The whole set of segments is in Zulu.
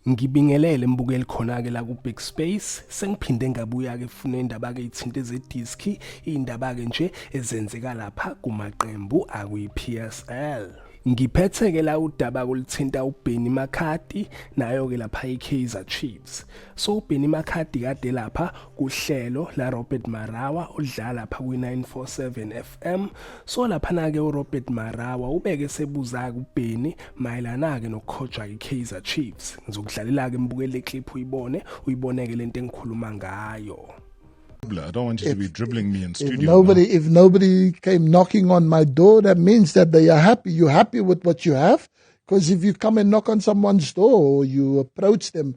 Ngibingelele mbukeli khona-ke la ku-big space sengiphinde ngabuya-ke funa indaba-ke ithinte zediski iy'ndaba-ke nje ezenzeka lapha kumaqembu akwi-p s l ngiphethe-ke la udaba kulithinta ubheni makhadi nayo-ke lapha i-kaizer chiefs so ubheni makhadi kade lapha kuhlelo la Robert Marawa odlala pha ku 947 FM so laphana ke uRobert Marawa ubeke sebuza kubheni mayelana ke nokukhojwa iKaizer Chiefs ngizokudlalela ke mbukele clip uyibone uyiboneke lento engikhuluma ngayo I don't want you if, to be dribbling me in studio. If nobody, now. if nobody came knocking on my door, that means that they are happy. You're happy with what you have, because if you come and knock on someone's door or you approach them,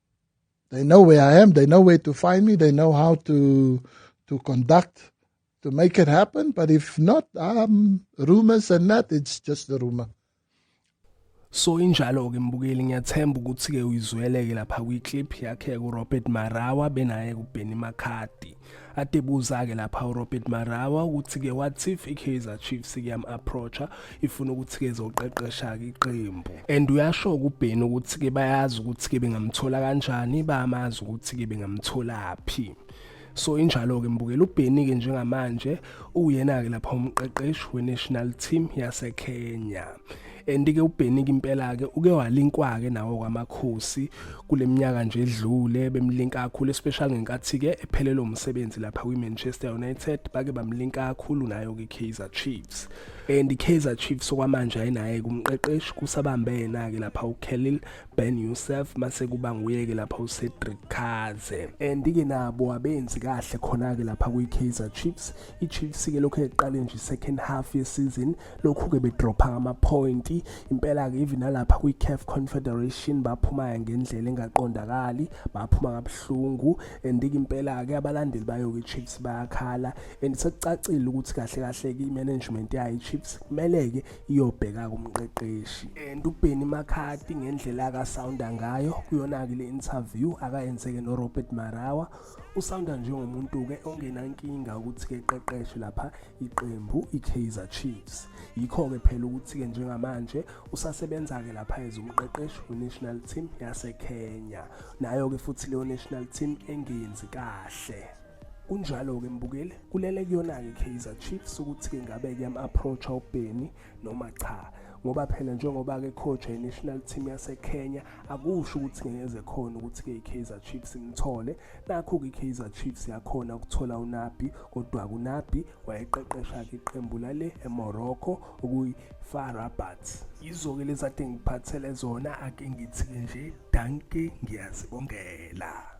They know where I am. They know where to find me. They know how to to conduct to make it happen. But if not, um, rumors and that, it's just a rumor. So injalo ke mbukeli ngiyathemba ukuthi ke uyizweleke lapha kwi clip yakhe ku Robert Marawa benaye ku Benny Makati. adebuza-ke lapha urobert marawa ukuthi-ke what if i-kaizer chiefs kuyam-approacha ifuna ukuthi-ke zoqeqesha-ke iqembu and uyasho-ke ubheni ukuthi-ke bayazi ukuthi-ke bengamthola kanjani bayamazi ukuthi-ke bengamtholaphi so injalo-ke mbukela ubheni-ke njengamanje uyena-ke lapha umqeqeshi we-national team yasekenya and ke ubheniki impela ke uke walinkwa ke nawo kwamakhosi kuleminyaka nje edlule bemlinka kakhulu especially ngenkathi ke ephelelwe umsebenzi lapha kwi Manchester United bake bamlinka kakhulu nayo ke Kaizer Chiefs and Kaizer Chiefs okwamanje ayinaye kumqeqeshi kusabambe yena ke lapha uKhalil Ben Youssef mase kuba nguye ke lapha uCedric Kaze and ke nabo abenzi kahle khona ke lapha kwi Kaizer Chiefs iChelsea ke lokhu eqale nje second half yeseason lokhu-ke bedropha ngamapointi impela-ke even nalapha kwi-caf confederation baphumaya ngendlela engaqondakali baphuma kabuhlungu and-ke impela-ke abalandeli bayo-ke ichiefs bayakhala and sekucacile ukuthi kahle kahle-ke i-management yayo ichiefs kumele-ke iyobheka kumqeqeshi and ubheni makhati ngendlela akasounda ngayo kuyona-ke le interview akayenzeke norobert marawa usawunda njengomuntu-ke ongenankinga ukuthi-ke qeqeshe lapha iqembu i-kaizer chiefs yikho-ke phela ukuthi-ke njengamanje usasebenza-ke lapha ezumqeqeshi we-national team yasekenya nayo-ke futhi leyo national team engenzi kahle kunjalo-ke mbukeli kulele kuyona-ke i-kaizer chiefs ukuthi-ke ngabe kuyam-approacha ubheni noma cha ngoba phela njengoba ke coach ye national team yase Kenya akusho ukuthi ngeze khona ukuthi ke iKaizer Chiefs imthole nakho ke iKaizer Chiefs yakhona ukuthola uNabi kodwa kuNabi wayeqeqesha ke iqembu lale eMorocco okuyi FAR Rabat yizo ke lezade ngiphathele zona ake ngithi nje danke ngiyazibongela